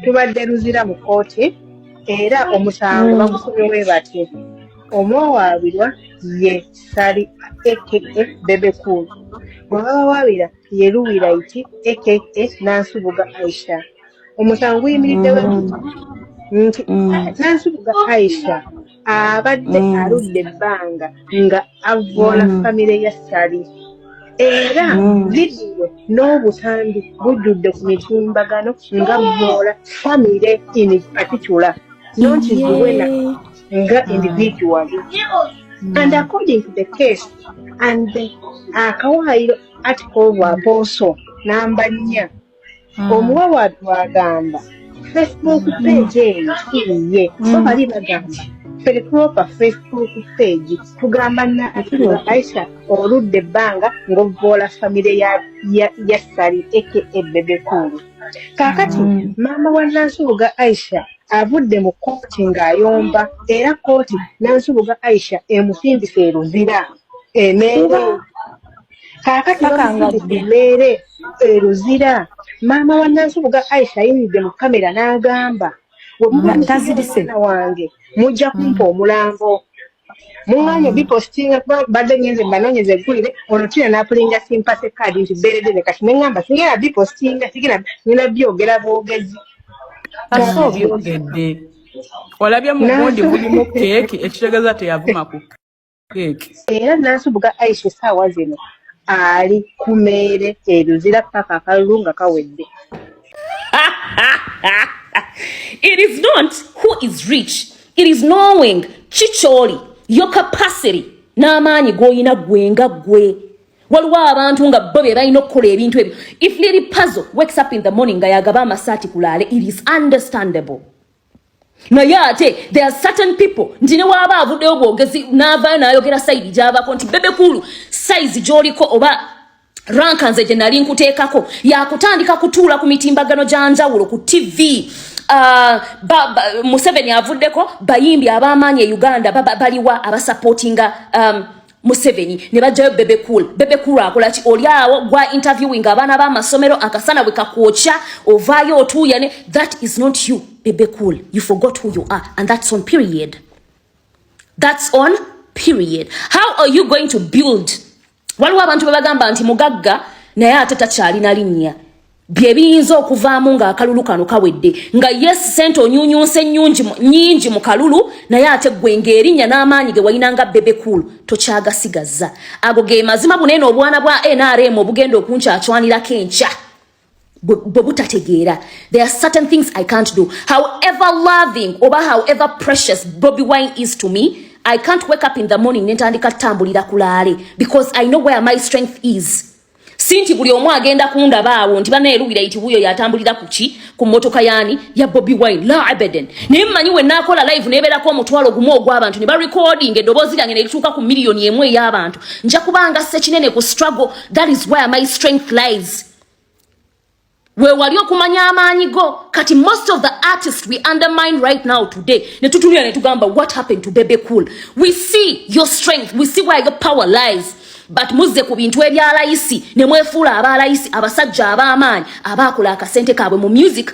tubadde luzira mu kkooti era omusango mm. bagusubirwe batye omwawaabirwa ye sali aka bebe cool bwe babawaabira ye luwira iti aka nansubuga aisha omusango guyimiriddewo mm. nti mm. nansubuga aisha abadde mm. aludde ebbanga nga avvoola mm. famire ya sali era mm. vidiyo n'obutambi bujjudde ku mitimbagano nga vvoola famire in particular not zuwena nga individual and according to the case and akawaayiro ati koobwa booso namba nnya Mm. omuwa watu agamba facebook page eyo kiyiye mm. so bali bagamba feripropa facebook page tugamba naaisha oludde ebbanga ng'ovvoola famire ya sali eke ebebekulu kaakati mm. maama wa nansubuga aisha avudde mu kooti ng'ayomba era kooti nansubuga aisha emusimbisa eruzira emeere kaakati bamufunde ku mmeere eruzira maama wa nansubuga aisha ayimiridde mu kamera n'agamba wemubaana wange mujja kumpa mm. omulambo muŋŋaanye mm. bipositinga kuba badde ngenze mbanoonyeza eggulire olwo tina n'apulinga simpase kaadi nti beeredde ne kati neŋŋamba singera bipositinga sigera nina byogera bwogezi kasa obyogedde olabye mu gundi bulimu keeki ekitegeeza teyavuma ku era nansubuga aisha esaawa zino ali ku meere eruzira paka akalulu nga kawedde it is not who is rich it is knowing kikyoli your capacity n'amaanyi g'olina gwe nga gwe waliwo abantu nga bo be balina okukola ebintu ebyo if liri pazo wakes up in the morning nga yagaba amasaati kulaale it is understandable naye ate there are certain people nti ne waaba avuddeyo bwogezi n'avaayo n'ayogera sayidi gy'avaako nti bebe kuulu sayizi gy'oliko oba ranka nze gye nali nkuteekako yakutandika kutuula ku mitimbagano gya njawulo ku tv Uh, ba, ba, museveni avuddeko bayimbi abamaanyi e uganda baliwa ba, ba, abasapootinga um, Museveni ne bajjayo Bebe Cool. Bebe Cool akola ki oli awo gwa interviewing abaana ba masomero akasana bwe kakwokya ovaayo otuuya ne that is not you Bebe Cool. You forgot who you are and that's on period. That's on period. How are you going to build? Waliwo abantu bebagamba nti mugagga naye ate takyalina linnya. bye biyinza okuvaamu ng'akalulu kano kawedde nga yes sente onyunyunse nyungi nyingi mu kalulu naye ate gwe ng'erinnya n'amaanyi ge walina nga bebe cool tokyagasigazza ago ge mazima buneeno obwana bwa nrm obugenda okunkyacwanirako enkya bwe butategeera there are certain things i can't do however loving oba however precious bobby wine is to me i can't wake up in the morning nentandika tambulira kulaale because i know where my strength is si nti buli omu agenda kundaba awo nti bana eruwira iti wuyo yatambulira kuki ku motoka yani ya Bobby Wine la abadan naye mmanyi we nakola live neberako omutwalo gumu ogw'abantu ne ba recording eddoboozi lyange ne lituuka ku miliyoni emu ey'abantu nja kubanga sekinene ku struggle that is where my strength lies wewali okumanya amaanyi go kati most of the artist we undermine right now today netutunira netugamba what happened to bebe cool we see your strength we see where your power lies but muzze ku bintu ebyalayisi nemwefuula abalayisi abasajja ab'amaanyi abaakola akasente kaabwe mu music